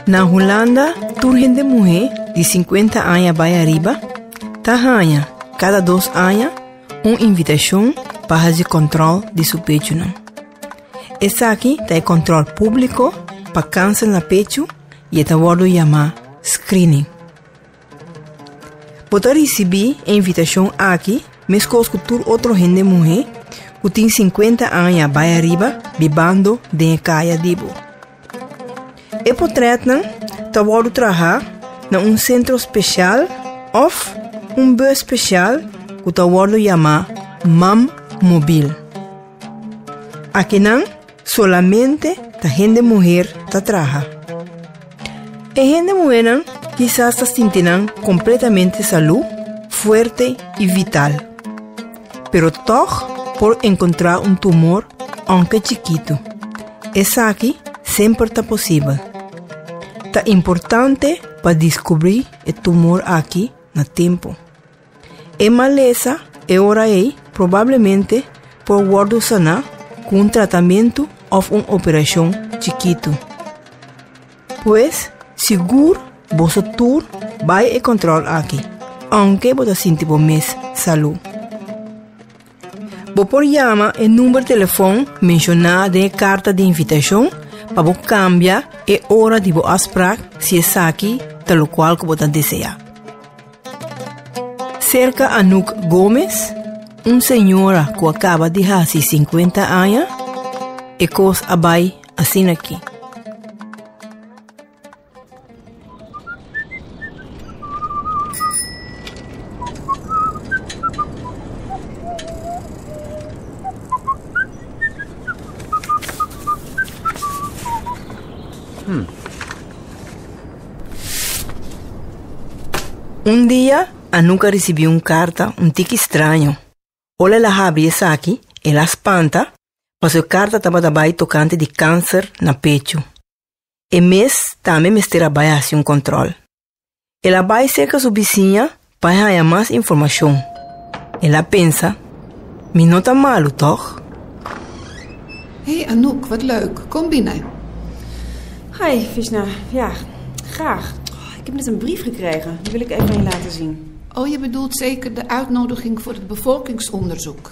Na Hulanda tur hende muhé di sinkuenta aña bai ariba ta haña kada dos aña un invitashon pa hasi kòntròl di su pechunan. Esaki ta e kòntròl públiko pa kanser na pechu i e ta wòrdu yamá screening. Bo ta risibí e invitashon aki meskos ku tur otro hende muhé ku tin sinkuenta aña bai ariba bibando den e kaya di bo. E potrètnan ta wòrdu trahá na un sentro speshal òf un bus speshal ku ta wòrdu yamá Mam Mobil. Akinan Solamente ta hende muher ta traha. E hende muhernan kisas ta sinti nan kompletamente salú, fuerte i vital. Pero tòg por enkontrá un tumor ònke chikitu. Esaki semper ta posibel. Ta importante pa diskubrí e tumor akí na tempu. E malesa e ora ei probablemente por wòrdu saná ku un tratamentu òf un operashon chikitu. Pues, sigur boso tur bai e kòntròl aki, aunke bo ta sinti bo mes salú. Bo por yama e number telefon menshona den e karta di invitashon pa bo kambia e ora di bo afsprak si esaki ta lokual ku bo ta deseá. Serka Anouk Gomez, un señora ku a kaba di hasi sinkuenta aña, e kos a bai asin'aki. Un dia, Anuka risibi un karta un tiki straño. Ola el a habri esaki, el a spanta pasobra e karta tabata bai tokante di kanser na pechu. E mes tambe mester a bai a hasi un kòntròl. El a bai serka su bisiña pa e haña mas informashon. El a pensa, Mi no ta malu, tòg? Hey, Anouk, wat leuk. Kom binnen. Hi, Fishna. Ja, graag. Ik heb net een brief gekregen. Die wil ik even aan je laten zien. Oh, je bedoelt zeker de uitnodiging voor het bevolkingsonderzoek.